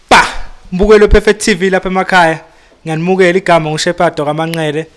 ba mbukelo perfect tv lapha emakhaya ngiyanimukela igama ngushepado kamanxele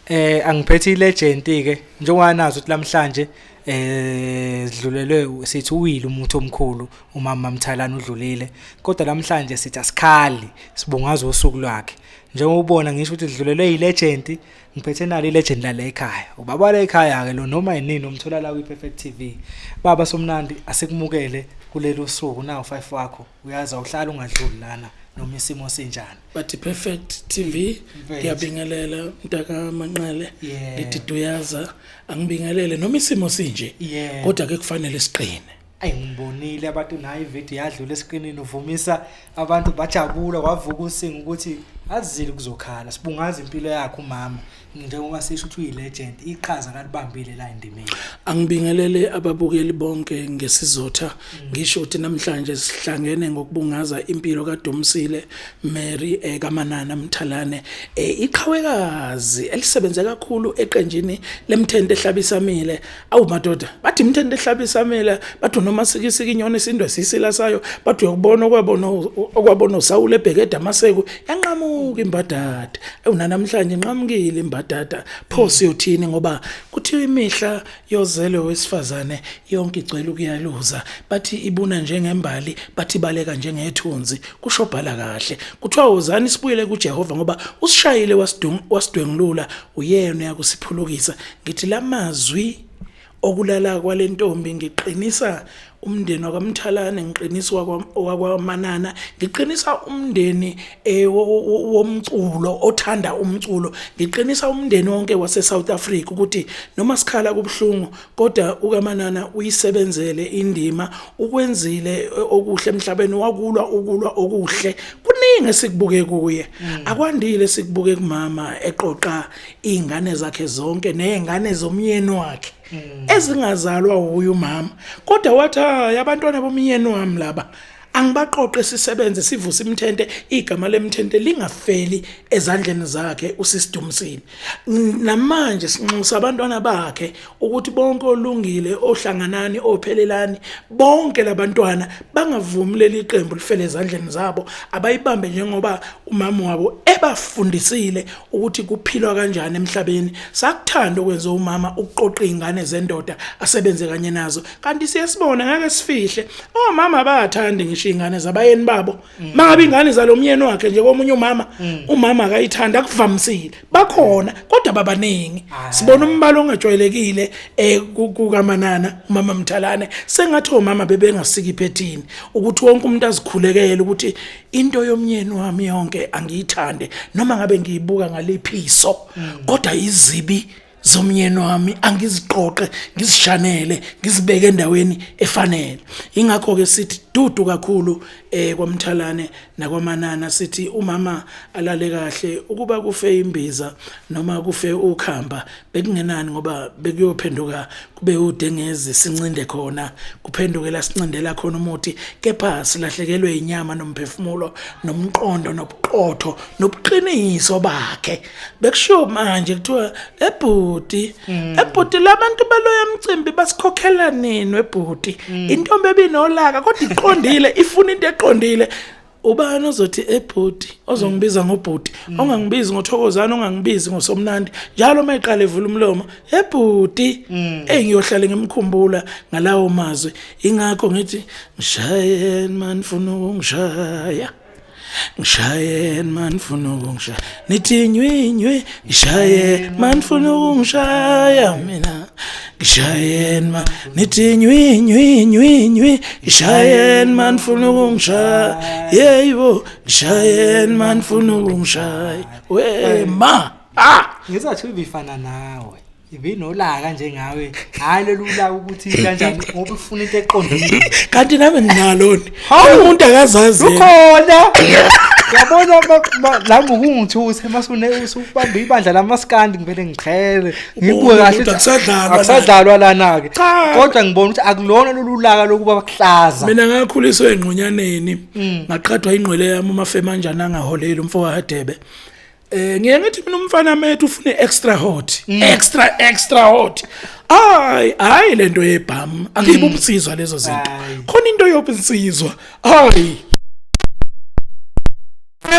eh angiphethe ilegend ke njengoba nazi ukuthi namhlanje eh sidlulelwe sithi uwile umuntu omkhulu umama Mthalana udlulile kodwa namhlanje sithi asikhali sibungaza usuku lwakhe njengoba ubona ngisho ukuthi sidlulelwe ilegend ngiphethe nalo ilegend lala ekhaya ubaba wala ekhaya ke lo noma yinini umthola la kwi-perfect tv baba somnandi asikumukele kuleli usuku nawu five wakho uyazi awuhlala ungadluli lana noma isimo sinjani but perfect tv ngiyabingelela mntaka manqele ngithi duyaza angibingelele noma isimo sinje kodwa ke kufanele siqine Ayi ngibonile abantu nayo ivideo yadlula esikrinini uvumisa abantu bajabula wavuka usinga ukuthi azile kuzokhala sibungaza impilo yakhe umama njengoba sisho ukuthi uyi-legend iqhaza kalibambile la endimeni angibingelele ababukeli bonke ngesizotha mm. ngisho ukuthi namhlanje sihlangene ngokubungaza impilo kaDumsile Mary ekaManana eh, Mthalane eh, iqhawekazi elisebenze kakhulu eqenjini lemthente ehlabisamile awu madoda bathi mthende ehlaba isamela bathi noma sikisika inyoni isindwe sisila sayo bathi uyokubona okwabona okwabona usawule ebhekeda amaseko yanqamuka imbadada awu nanamhlanje inqamukile imbadada pho mm. siyothini ngoba kuthiwa imihla yozelwe wesifazane yonke igcwele ukuyaluza bathi ibuna njengembali bathi baleka njengethunzi kusho bhala kahle kuthiwa wozani sibuyele kuJehova ngoba usishayile wasidwengulula uyena uyakusiphulukisa ngithi lamazwi okulala kwalentombi ngiqinisa umndeni wakwamthalane ngiqinisa wakwamanana ngiqinisa umndeni eh, womculo othanda umculo ngiqinisa umndeni wonke wase South Africa ukuthi noma sikhala kubuhlungu kodwa ukamanana uyisebenzele indima ukwenzile eh, okuhle emhlabeni wakulwa ukulwa okuhle kuningi esikubuke kuye mm. akwandile sikubuke kumama eqoqa izingane zakhe zonke nezingane zomyeni wakhe hmm. ezingazalwa wuye umama kodwa wathi hayi abantwana bomyeni wami laba angibaqoqe sisebenze sivuse imthente igama lemthente lingafeli ezandleni zakhe usisidumisile namanje sinxusa abantwana bakhe ukuthi bonke olungile ohlanganani ophelelani bonke labantwana bangavumi leli qembu lifele ezandleni zabo abayibambe njengoba umama wabo ebafundisile ukuthi kuphilwa kanjani emhlabeni sakuthanda ukwenza umama ukuqoqa izingane zendoda asebenze kanye nazo kanti siyasibona ngeke sifihle omama abathandi ngisho izingane zabayeni babo Mm. mangabe ingane zalomyeni wakhe nje komunye umama mm. umama akayithandi akuvamisile bakhona kodwa babaningi ah. sibona umbalo ongajwayelekile eh, kukamanana umama mthalane sengathi omama bebengasiki phethini ukuthi wonke umuntu azikhulekele ukuthi into yomnyeni wami yonke angiyithande noma ngabe ngiyibuka ngaliphiso mm. kodwa izibi zomnyeni wami angiziqoqe ngizishanele ngizibeke endaweni efanele ingakho ke sithi dudu kakhulu eh kwamthalane nakwamanana sithi umama alale kahle ukuba kufe imbiza noma kufe ukhamba bekungenani ngoba bekuyophenduka kube udengezi sincinde khona kuphendukela sincindela khona umuthi kepha silahlekelwe inyama nomphefumulo nomqondo nobuqotho nobuqiniso bakhe bekushiwo manje kuthiwa ebhuti mm. ebhuti labantu baloya mcimbi basikhokhela nini webhuti mm. intombi ebinolaka kodwa iqondile ifuna into eqondile ubani ozothi ebhuti ozongibiza ngobhuti mm. ongangibizi ngothokozana ongangibizi ngosomnandi njalo uma iqala evula umlomo ebhuti eyi ngiyohlale ngimkhumbula ngalawo mazwi ingakho ngithi ngishayeni mani funa ukungishaya ngishaye man funa ukungishaya nithi nywinywi ngishaye man funa ukungishaya mina ngishaye man nithi nywinywi nywinywi ngishaye man funa ukungishaya yeyibo ngishaye man funa ukungishaya we ma ah ngizathi ubifana nawe ibinolaka njengawe hayi lolula ukuthi kanjani ngoba ufuna into eqondile kanti nami nginaloni umuntu akazazi ukhona yabona la ngokungithusa masune usubamba ibandla lamaskandi ngivele ngiqhele ngibuke kahle akusadlalwa akusadlalwa lana ke kodwa ngibona ukuthi akulona lolulaka lokuba bakuhlaza mina ngakhuliswa engqonyaneni mm. ngaqhathwa ingqwele yami umafema kanjani angaholeli umfowahadebe Eh ngiye ngithi mina umfana methu ufune extra hot. Mm. Extra extra hot. Ay hayi lento yebham akibe mm. umsizwa lezo zinto. Khona into yobunsizwa. Hayi.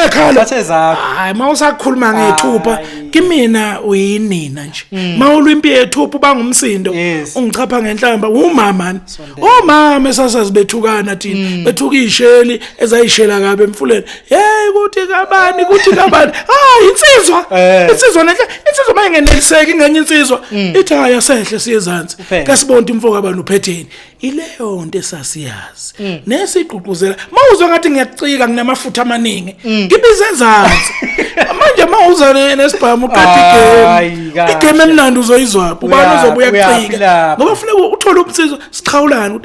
Ekhala. Bathe zakho. Hayi mawusakhuluma ngethupha kimina uyinina nje. Mm. Mawulwa impi yethupha ubangumsindo. Ungichapha ngenhlamba umama. omama esasazi bethukana thina mm. bethuka isheli ezayishela kabe emfuleni hey kuthi kabani kuthi kabani ah insizwa eh. insizwa nenhle insizwa manje ngeneliseki ngenye insizwa mm. ithi haya sehle siyezansi kasibonta imfoka abantu uphetheni ileyo nto esasiyazi mm. nesigqugquzela mawuzwa ngathi ngiyacika nginamafutha amaningi mm. ngibize enzansi manje mawuza nesibhamu uqeda igame igame emnandi uzoyizwa ubani uzobuya kucika ngoba funeka uthole umsizo siqhawulana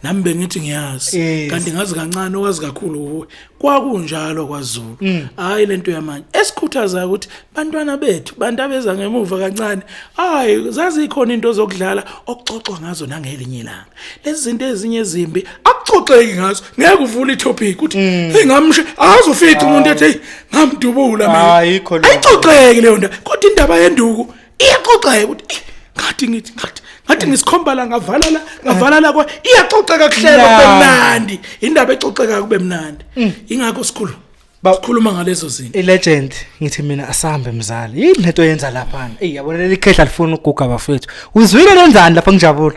nami bengithi ngiyazi kanti ngazi kancane owazi kakhulu kuwe kwakunjalo kwaZulu mm. hayi lento yamanje esikhuthaza ukuthi bantwana bethu bantu abeza ngemuva kancane hayi zazikhona into zokudlala okuxoxwa ngazo nangelinye ilanga lezi zinto ezinye ezimbi akuxoxeki ngazo ngeke uvule itopic uthi mm. hey ngamshe azufica umuntu ethi hey ngamdubula mina ayikho leyo ayixoxeki leyo nto kodwa indaba yenduku iyaxoxeka ukuthi ngathi ngithi ngathi ngathi ngisikhomba la ngavala la ngavala la kwa iyaxoxeka kuhlelo kube mnandi indaba exoxeka kube mnandi mm. ingakho sikhulu bakhuluma ngalezo zinto ilegend ngithi mina asambe mzali yini lento yenza lapha ey yabona leli khehla lifuna ukuguga bafethu uzwile lenzani lapha ngijabula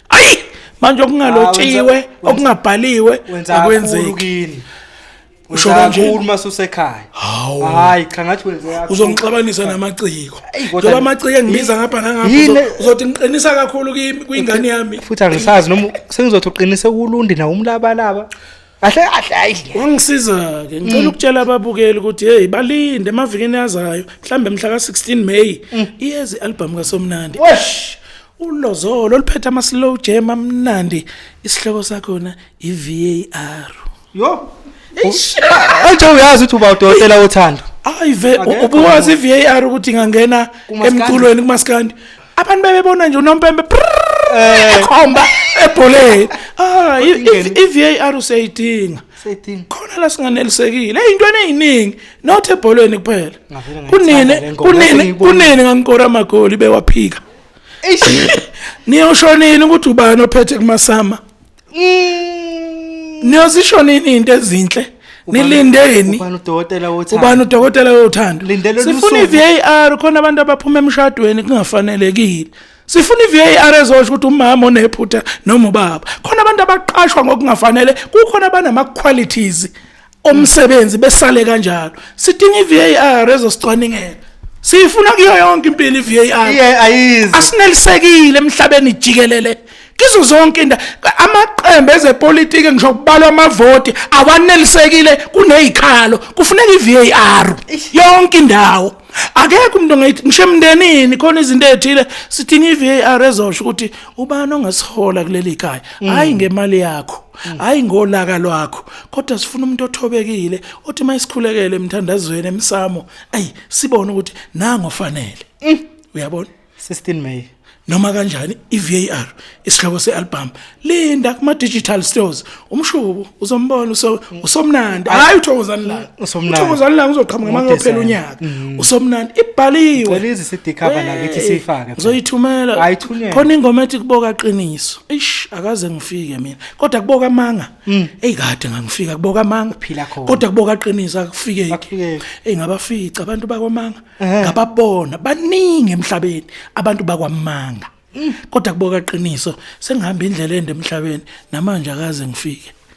ayi manje okungalotshiwe ah, okungabhaliwe akwenzeki usho kanje uma susekhaya hayi cha ngathi wenze yakho uzongixabanisa namaciko njengoba amaciko engibiza ngapha nangapha uzothi ngiqinisa kakhulu kwingane yami futhi angisazi noma sengizothi uqinise kulundi na umlabalaba kahle kahle hayi wangisiza ke ngicela ukutshela ababukeli ukuthi hey balinde emavikini azayo mhlambe mhla ka16 May iyezi album kaSomnandi wesh ulozolo oluphethe ama slow jam amnandi isihloko sakhona iVAR yo Anje uyazi ukuthi uba udokotela wothando. Hayi ve ubuwazi iVAR ukuthi ingangena Kumaskandi. emculweni kumaskandi abantu bebebona nje unompempe eh. ekhomba ebholeni ah i-VAR useyidinga seyidinga khona la singanelisekile eyintweni eziningi not ebholeni kuphela kunini kunini kunini ngangikora amagoli bewaphika niyoshonini ukuthi ubani ophethe kumasama niyozisho nini into ezinhle nilindeni ubani udokotela wothando ubani udokotela wothando sifuna iVAR khona abantu abaphuma emshadweni kungafanelekile sifuna iVAR ezosho ukuthi umama onephutha noma ubaba khona abantu abaqashwa ngokungafanele kukhona abanama qualities omsebenzi besale kanjalo sidinga iVAR ezosicwaningela siyifuna kuyo yonke impilo iVAR iye ayizi asinelisekile emhlabeni jikelele kizo zonke inda amaqembu ezepolitiki ngisho kubalwa amavoti awanelisekile kunezikhalo kufuneka iVAR yonke indawo akekho umuntu ongayithi ngisho emndenini khona izinto ezithile sithini iVAR ezosho ukuthi ubani ongasihola kuleli khaya hayi ngemali yakho hayi ngolaka lwakho kodwa sifuna umuntu othobekile othi mayisikhulekele emthandazweni emsamo ayi sibone ukuthi nango ofanele mm. uyabona 16 May noma kanjani iVAR isihloko sealbum linda kuma digital stores umshubo uzombona usomnandi hayi uthokozani la uthokozani la uzoqhamuka manje uphela unyaka mm. usomnandi ibhaliwe lezi CD cover nakithi siyifake ngizoyithumela khona ingoma ethi kuboka qiniso Ish akaze ngifike mina. Kodwa kuboka amanga. Mm. Ey kade ngangifika kuboka amanga. Phila khona. Kodwa kuboka qinisa akufike. Akufike. Ey ngabafica abantu bakwamanga. Ngababona baningi emhlabeni abantu bakwamanga. Mm. Kodwa kuboka qiniso sengihamba indlela ende emhlabeni namanje akaze ngifike.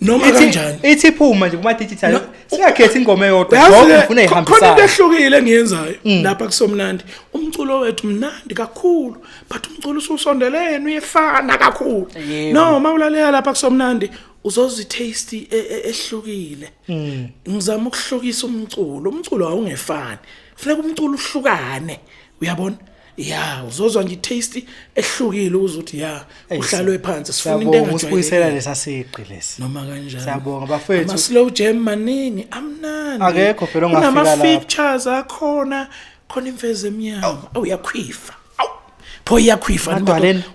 noma Ithi- kanjani ithi iphuma nje kuma digital No. singakhethi ingoma eyodwa Yazi ngoba ke, ngifuna kho- khona into ihambisayo ehlukile engiyenzayo Mm. lapha kusomnandi umculo wethu mnandi kakhulu but umculo ususondelene uyefana kakhulu Yebo. no uma ulalela lapha kusomnandi uzozitaste e- e- ehlukile Mm. ngizama ukuhlukisa umculo umculo awungefani kufuneka umculo uhlukane uyabona ya uzozwa nje taste ehlukile ukuthi ya uhlalwe phansi sifuna into engajwayelekile usibuyisela lesasiqi lesi noma kanjani siyabonga bafethu ama slow jam maningi amnandi akekho phela ongafika la ama features akhona khona imfezi emnyama awuyakhwifa awu pho iyakhwifa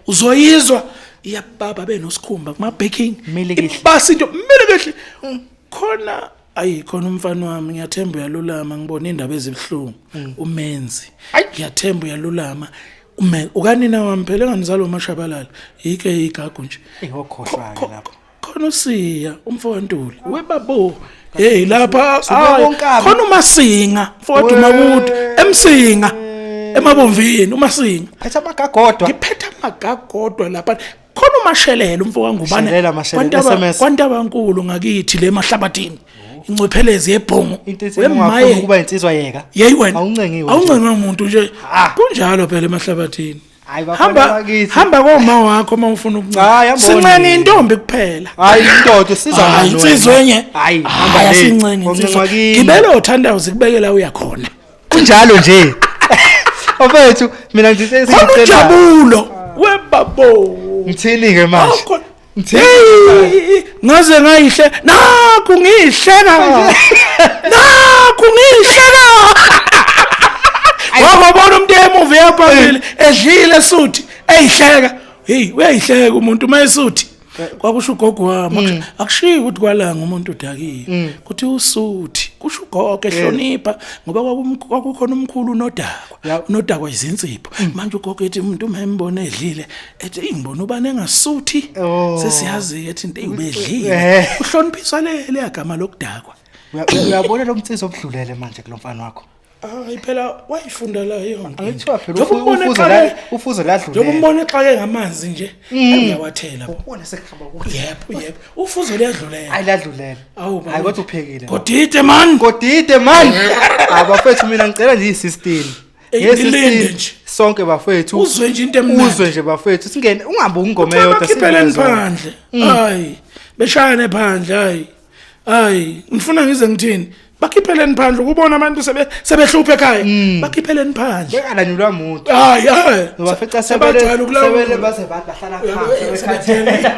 uzoyizwa iyababa benosikhumba kuma baking ibasi into mele kahle khona ayi khona umfana wami ngiyathemba uyalulama ngibona indaba ezibuhlungu mm. umenzi ngiyathemba uyalulama ume ukanina wami phela enganizalo umashabalala yike igagu nje ihokhohlwa ke lapho khona usiya umfowantuli webabo hey lapha khona umasinga mfowethu makude emsinga emabomvini umasinga phetha amagagodwa ngiphetha amagagodwa lapha khona umashelela umfoka ngubane Shelela, Mashelela, kwantaba SMS. kwantaba nkulu ngakithi le mahlabathini incwephelezi yebhungu into ethi Wemaye, ungafuna ukuba insizwa yeka yeyi wena awuncengiwe awuncengiwe muntu nje Ah. kunjalo phela emahlabathini Hayi, bafana hamba bakithi. hamba koma wakho uma ufuna Hayi, hamba sincenge wonile. intombi kuphela hayi indoda siza hayi insizwa enye hayi hamba hayi le. asincengi Oncenga insizwa kimi. gibela othandawuze kubekela uyakhona kunjalo nje ofethu mina ngithi khona sengicela ujabulo webabo ngithini ke manje Awukho- ngithini Hey, ngaze ngayihle nakhu ngiyihleka nakhu ngiyihleka wababona umuntu emuva eyaphambili edlile suthi eyihleka heyi uyayihleka umuntu uma esuthi kwakusho ugogo wami mm. akushiyi ukuthi kwalanga umuntu udakile mm. kuthi usuthi kusho ugogo mm. ehlonipha ngoba kwakukhona umkhulu unodakwa unodakwa izinsipho manje ugogo ethi umuntu uma embona edlile ethi ingibona ubani engasuthi oh. sesiyazi ethi into eyibedlile eh. uhloniphiswa le leyagama lokudakwa uyabona lo mtsizo obudlulele manje kulomfana wakho hayi phela wayifunda la yonke Angithiwa phela Njengoba ufu- umbona ufuze exake- la- ufuze ladlulele. njengoba umbona exake ngamanzi nje uyawathela Ubona sekuhamba kuhle. yebo yebo ufuze liyadlulela Hayi ladlulele. Awu, baba. Hayi kodwa uphekile. kodide man Kodide man. Hayi bafethu mina ngicela nje i-system. Ey, Nge-system, ngilinde nje. Sonke bafethu. Uzwe nje into emnandi. Uzwe nje bafethu. Singene ungabuki ingoma eyodwa. bakhiphele singene zona. phandle hayi beshayane phandle hayi hayi ngifuna ngize ngithini bakhipheleni phandle ukubona abantu sebe sebehluphe ekhaya Mm. bakhipheleni phandle Bengalanyulwa muntu. hayi hayi Ngoba fica sebele sebajwayele ukulawula. sebele base bahlala Uyabo, phansi. eh, sebekhathele. sebethele.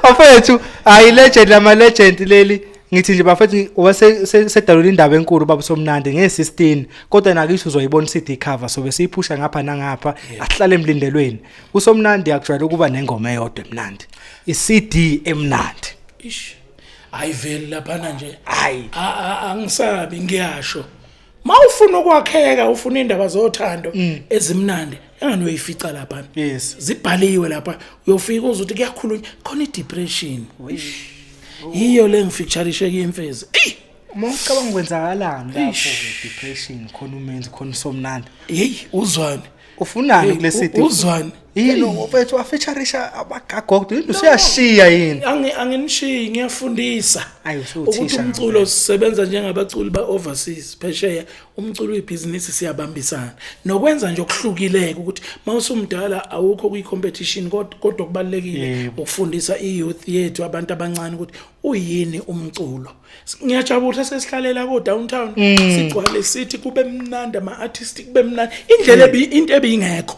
Bafethu, hayi legend lama legend leli. Ngithi nje bafethu wase se- sedalula indaba enkulu baba somnandi nge16 kodwa nakisho uzoyibona CD cover sobe siyiphusha ngapha nangapha ahlale emlindelweni. kusomnandi akujwayele ukuba nengoma eyodwa emnandi i-cd emnandi ish hayi vele laphana nje hayi A- a- angisabi ngiyasho ma ufuna ukwakheka ufuna indaba zothando ezimnandi engani uyoyifica laphana Yes. zibhaliwe lapha uyofika uze uthi kuyakhulunywa khona i-depression yiyo le ngifeaturishe kuyimfezi eyi uma ucabanga ukwenzakalani lapho depression khona umenzi khona usomnandi yeyi uzwane ufunani kule city uzwani yini mfethu wafeaturisha abagagodo yini usuyashiya yini angi anginishiyi ngiyafundisa ukuthi umculo sisebenza njengabaculi ba overseas phesheya umculo uyibhizinisi siyabambisana nokwenza nje okuhlukileke ukuthi mawusumdala awukho kwi competition kodwa kubalekile ukufundisa i youth yethu abantu abancane ukuthi uyini umculo ngiyajabula sesihlalela ko downtown mm. sigcwale sithi kube mnandi ama artist kube mnandi indlela ebi into ebingekho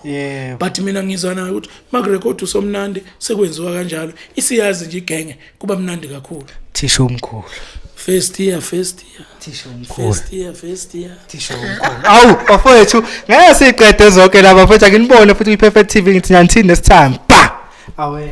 but mina ngizwa nayo ukuthi makurecord usomnandi sekwenziwa kanjalo isiyazi nje igenge kuba mnandi kakhulu thisha omkhulu First year, first year. Thisha umkhulu. First year, first year. Thisha umkhulu. Awu, bafowethu, ngeke siqede zonke laba futhi akinibone futhi kwi-Perfect TV ngithi nyanthini this time. Ba! Away.